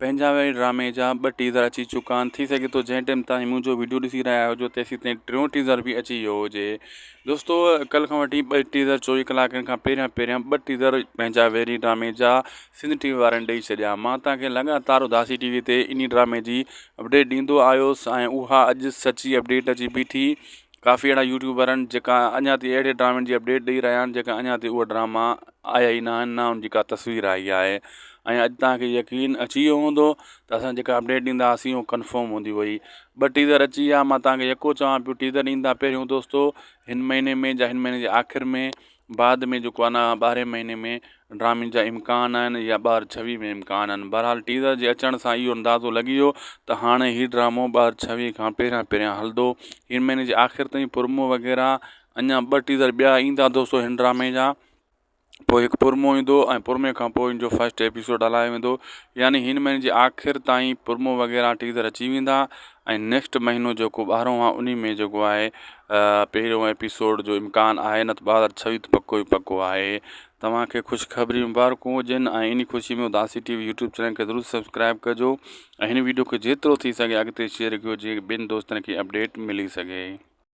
پنهنجا ويل ڊرامي جا ٻه ٽيزر اچي چڪا آهن ٿي سگهي ٿو جنهن ٽيم تائين منهنجو ويڊيو ڏسي رهيا هجو تيسين تائين ٽيون ٽيزر به اچي ويو هجي دوستو ڪل کان وٺي ٻه ٽيزر چوويهه ڪلاڪن کان پهريان پهريان ٻه ٽيزر پنهنجا ويري ڊرامي جا سنڌ ٽي وي وارن ڏئي ڇڏيا مان تاکي لڳاتار اداسي ٽي وي تي انهي ڊرامي جي اپڊيٽ ڏيندو آيس ۽ اها اڄ سچي اپڊيٽ اچي بيٺي ڪافي اهڙا يوٽيوبر آهن جيڪا اڃا تائين اهڙي ڊرامن جي اپڊيٽ ڏئي رهيا آهن جيڪا اڃا تائين اهي ڊراما آيا ئي ناهن، نه ان جي ڪا تصوير آئي آهي ۽ اڄ توهان کي يقين اچي ويو هوندو ته اسان جيڪا اپڊيٽ ڏيندا هئاسين اهو ڪنفرم هوندي هئي. ٻه ٽيزر اچي ويا، مان توهان کي يڪو چوان پيو ٽيزر ڏيندا پهريون دوستو هن مهيني ۾ جا هن مهيني جي آخر ۾ بعد ۾ جيڪو انا ٻارهين مهيني ۾ ڊرامي جا امڪان آهن يا ٻار ڇويهه ۾ امڪان آهن بهرحال ٽيزر جي اچڻ سان اهو اندازو لڳي ويو ته هاڻي هي ڊرامو ٻار ڇويهه کان پهريان پهريان هلندو هن مهيني جي آخر تائين پرمو وغيره اڃان ٻه ٽيزر ٻيا ايندا دوستو هن ڊرامي جا پوء هڪ پرمو ايندو ۽ پرمي کان پوء ان جو فسٽ ايپيسوڊ هلايو ويندو يعني هن مهيني جي آخر تائين پرمو وغيره ٽيزر اچي ويندا ۽ نيڪسٽ مهينو جيڪو ٻارهون آهي انهي ۾ جيڪو آهي پهريون ايپيسوڊ جو امڪان آهي نه ته ٻه هزار ڇويهه ته پڪو ئي پڪو آهي توهان کي خوشخبري مبارڪون هجن ۽ انهي خوشي ۾ Udasi TV YouTube channel کي ضرور سبسڪرائب ڪجو ۽ هن ويڊيو کي جيترو ٿي سگهي اڳتي شيئر ڪيو جيئن ٻين دوستن کي اپڊيٽ ملي سگهي